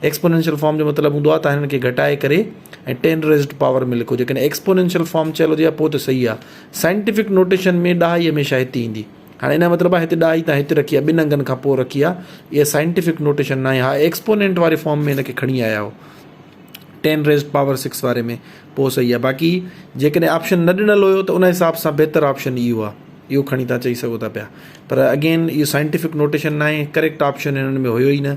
Exponential form جو مطلب هوندو آهي ته هنن کي گهٽائي ڪري ۽ ٽين ريزڊ پاور ۾ لکو جيڪڏهن ايڪسپونينشل فارم چيل هجي ها پوء ته صحيح آهي سائنٽيفڪ نوٽيشن ۾ ڏهائي هميشه هتي ايندي هاڻي ان جو مطلب آهي هتي ڏهائي تان هتي رکي آهي ٻن انگن کان پوء رکي آهي اها سائنٽيفڪ نوٽيشن ناهي ها ايڪسپونينٽ واري فارم ۾ ان کي کڻي آيا هو ٽين ريزڊ پاور سڪس واري ۾ پوء صحيح آهي باقي جيڪڏهن آپشن نه ڏنل هيو ته ان حساب سان بهتر آپشن اهو آهي اهو کڻي تان چئي سگهو ٿا پيا پر اگين اهو سائنٽيفڪ نوٽيشن ناهي ڪريڪٽ آپشن هنن ۾ هيو ئي نه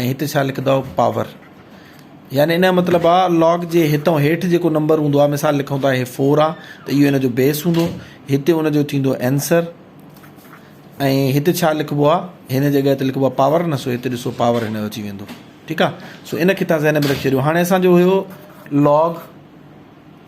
۽ هتي ڇا لکندؤ پاور يعني ان جو مطلب آ لاگ جي هتئون هيٺ جيڪو نمبر هوندو آ مثال لکون ٿا هي 4 آ ته اهو ان جو بيس هوندو هتي ان جو ٿيندو آنسر ۽ هتي ڇا لکبو آ هن جڳهه تي لکبو آ پاور نه سو هتي ڏسو پاور هن جو اچي ويندو ٺيڪ آ سو ان کي تان ذهن ۾ رکي ڇڏيو هاڻي اسان جو هيو لاگ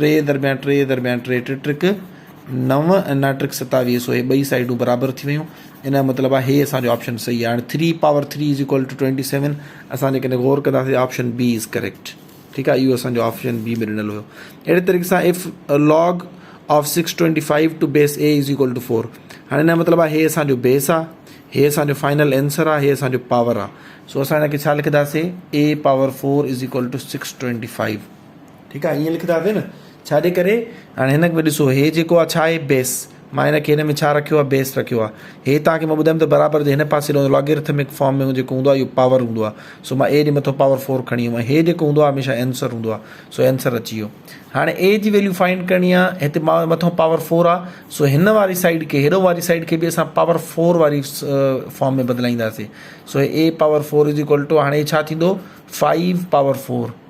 ٽي درميان ٽي درميان ٽي ٽي ٽرڪ نو ۽ نو ٽرڪ ستاويهه سو هي ٻئي سائيڊون برابر ٿي ويون ان جو مطلب آ هي اسانجو آپشن صحيح آ هاڻي three power three is equal to twenty seven اسان جيڪڏهن غور ڪنداسين آپشن بي از ڪريڪٽ ٺيڪ آ اهو اسانجو آپشن بي ۾ ڏنل هيو اهڙي طريقي سان of log of six twenty five to base a is equal to four هاڻي ان جو مطلب آ هي اسانجو بيس آ هي اسانجو فائنل آنسر آ هي اسانجو پاور آ سو اسان هن کي ڇا لکنداسين a power four is equal to six twenty five ٺيڪ آ ائين لکنداسين نه ڇا جي ڪري هاڻي هن ۾ ڏسو هي جيڪو آ ڇا آهي بيس مان هن کي هن ۾ ڇا رکيو آ بيس رکيو آ هي تان کي مان ٻڌايم ته برابر جي هن پاسي رهندو لاگرٿمڪ فارم ۾ جيڪو هوندو آ اهو پاور هوندو آ سو مان اي جي مٿو پاور 4 کڻي ايم هي جيڪو هوندو آ هميشه انسر هوندو آ سو انسر اچي ويو هاڻي اي جي ويليو فائنڊ ڪرڻي آ هتي مان مٿو پاور 4 آ سو هن واري سائيڊ کي هيڏو واري سائيڊ کي به اسان پاور 4 واري فارم ۾ بدلائينداسي سو A power 4 is equal to هاڻي ڇا ٿيندو 5 پاور 4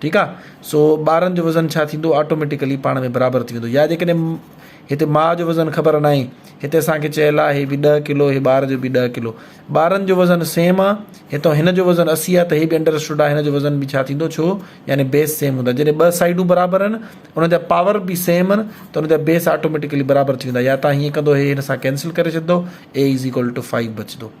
ٺيڪ آ سو ٻارن جو وزن ڇا ٿيندو آٽوميٽيڪلي پاڻ ۾ برابر ٿي ويندو يا جيڪڏهن هتي ماء جو وزن خبر ناهي هتي اسان کي چيل آ هي به ڏهه ڪلو هي ٻار جو به ڏهه ڪلو ٻارن جو وزن سيم آ هتو هن جو وزن اسي آ ته هي به انڊر اسٽوڊ آ هن جو وزن به ڇا ٿيندو ڇو يعني بيس سيم هوندا جڏهن ٻه سائيڊون برابر ان ان جا پاور به سيم ان ته ان جا بيس آٽوميٽيڪلي برابر ٿي ويندا يا تان هيئن ڪندو هي هن سان ڪينسل ڪري ڇڏدو a is equal to 5 بچدو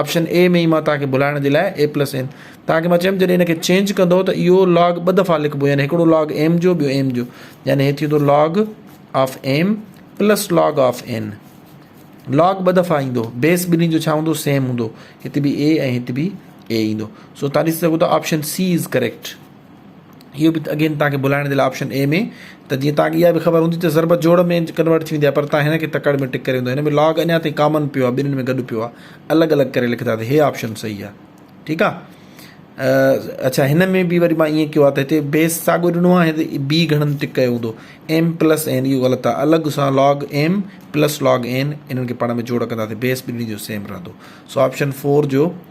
آپشن اي ۾ ئي مان توهان کي ڀلائڻ جي لاء اي پلس ايم توهان کي مان چيم جڏهن ان کي چينج ڪندو ته اهو لاگ ٻه دفعا لکبو يعني هڪڙو لاگ ايم جو ٻيو ايم جو يعني هي ٿيندو log of m plus log of n log ٻه دفعا ايندو بيس ٻنهي جو ڇا هوندو سيم هوندو هت به اي ۽ هت به اي ايندو سو تاريخ سگهو ته آپشن سي از ڪريڪٽ اهو به اگين توهان کي بلائڻ جي لاء آپشن اي ۾ ته جيئن توهان کي اها به خبر هوندي ته ضرب جوڙ ۾ ڪنورٽ ٿي ويندي آهي پر توهان هن کي تڪڙ ۾ ٽڪ ڪري ويندو هن ۾ لاگ اڃا تائين ڪامن پيو آهي ٻنهن ۾ گڏ پيو آهي الڳ الڳ ڪري لکندا ته هي آپشن صحيح آهي ٺيڪ آهي اڇا هن ۾ به وري مان ائين ڪيو آهي ته هتي بيس ساڳو ڏنو آهي هتي بي گهڻن ٽڪ ڪيو هوندو ايم پلس اين اهو غلط آهي الڳ سان log m plus log n انهن کي پاڻ ۾ جوڙ ڪنداسي بيس ٻنهي جو سيم رهندو سو آپشن فور جو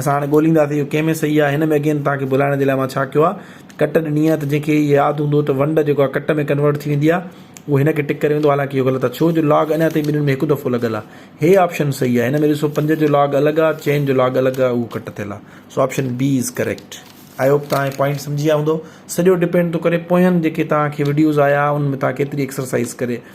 اسان هاڻي ڳوليندا ته اهو ڪنهن ۾ صحيح آهي هن ۾ اڳين توهان کي ڀلائڻ جي لاء مان ڇا ڪيو آهي ڪٽ ڏني آهي ته جنهن کي ياد هوندو ته ونڊ جيڪو آهي ڪٽ ۾ ڪنورٽ ٿي ويندي آهي اهو هن کي ٽڪ ڪري ويندو حالانڪه اهو غلط آهي ڇو جو لاگ اڃا تائين ٻنهين ۾ هڪ دفعو لڳل آهي هي آپشن صحيح آهي هن ۾ ڏسو پنج جو لاگ الڳ آهي چئن جو لاگ الڳ آهي اهو ڪٽ ٿيل آهي سو option B is correct I hope توهان هي پوائنٽ سمجهي ويا هوندو سڄو ڊپينڊ ٿو ڪري پوئين جيڪي توهان کي وڊيوز آيا ان ۾ توهان ڪيتري ايڪسرسائز ڪري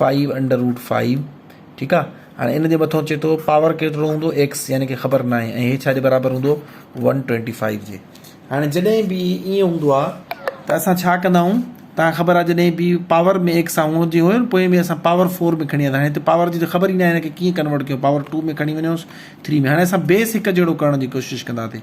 فائيو انڊر روٽ فائيو ٺيڪ آ هاڻي ان جي مٿو چي ٿو پاور ڪيترو هوندو ايڪس يعني ڪي خبر ناهي ۽ هي ڇا جي برابر هوندو ون ٽوئنٽي فائيو جي هاڻي جڏهن به ائين هوندو آ ته اسان ڇا ڪندا آهيون تان خبر آ جڏهن به پاور ۾ ايڪس آ هوندي هو پوء ۾ اسان پاور فور ۾ کڻي آيا هاڻي هتي پاور جي ته خبر ئي ناهي هن کي ڪيئن ڪنورٽ ڪيو پاور ٽو ۾ کڻي وڃوس ٿري ۾ هاڻي اسان بيس هڪ جهڙو ڪرڻ جي ڪوشش ڪندا ٿي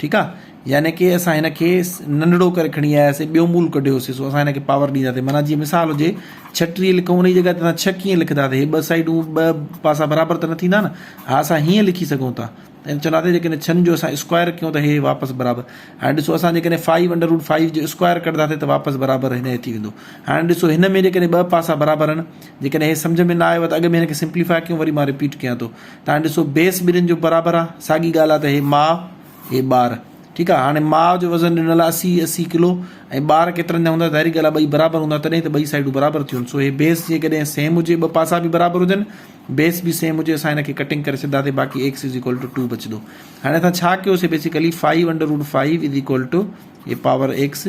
ٺيڪ آ يعني ڪي اسان هن کي ننڍڙو ڪري کڻي آياسي ٻيو مول ڪڍيوسي سو اسان هن کي پاور ڏيندا تي معنيٰ جي مثال هجي ڇهه ٽيهه لکون انهي جي جڳهه تي اسان ڇهه ڪيئن لکدا تي هي ٻه سائيڊون ٻه پاسا برابر ته نه ٿيندا نه ها اسان هيئن لکي سگهون ٿا ۽ چوندا تي جيڪڏهن ڇهن جو اسان اسڪوائر ڪيون ته هي واپس برابر هاڻي ڏسو اسان جيڪڏهن فائيو انڊر روٽ فائيو جو اسڪوائر ڪڍدا تي ته واپس برابر هن ٿي ويندو هاڻي ڏسو هن ۾ جيڪڏهن ٻه پاسا برابر آهن جيڪڏهن هي سمجهه ۾ نه آيو ته اڳ ۾ هن کي سمپليفائي ڪيون وري مان رپيٽ ڪيان ٿو تان ڏسو بيس ٻنهين جو برابر آ ساڳي ڳالهه آ ته هي ماء هي ٻار ٺيڪ آ هاڻي ماء جو وزن ڏنل آ اسي اسي ڪلو ۽ ٻار ڪيترن جا هوندا ظاهري ڳالهه آ ٻئي برابر هوندا تڏهن ته ٻئي سائيڊون برابر ٿيون سو هي بيس جيڪڏهن سيم هجي ٻه پاسا به برابر هجن بيس به سيم هجي اسان هن کي ڪٽنگ ڪري سگهنداسين باقي x is equal to two بچندو هاڻي اسان ڇا ڪيوسي basically five under root five is equal to هي power x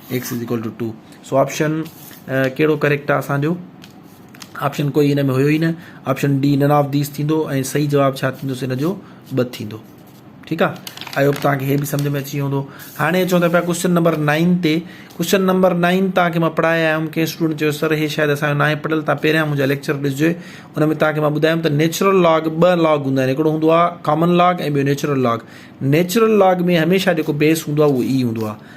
x is equal to two two option ڪهڙو ڪريڪٽ آ اسان جو آپشن ڪوئي هن ۾ هيو ئي نه option D none of these ٿيندو ۽ صحيح جواب ڇا ٿيندو سو هن جو ٻه ٿيندو ٺيڪ آ آئي هوپ توهان کي هي به سمجھ ۾ اچي ويو هوندو هاڻي اچون ته پيا ڪوشچن نمبر 9 تي ڪوشچن نمبر 9 توهان کي مان پڙهائي آيو هيم ڪنهن اسٽوڊنٽ چيو سر هي شايد اسان جو نه آهي پڙهيل توهان پهريان منهنجا ليڪچر ڏسجو ان ۾ توهان کي مان ٻڌايم ته نيچرل لاگ ٻه لاگ هوندا آهن هڪڙو هوندو آ ڪامن لاگ ۽ ٻيو نيچرل لاگ نيچرل لاگ ۾ هميشه جيڪو بيس هوندو آ اهو اي هوندو آ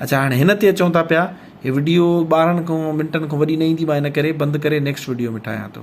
اچا هاڻي هن تي اچون ٿا پيا هي وڊيو ٻارهن کان منٽن کان وڏي نه ايندي مان هن ڪري بند ڪري نيڪسٽ وڊيو ۾ ٺاهيان ٿو.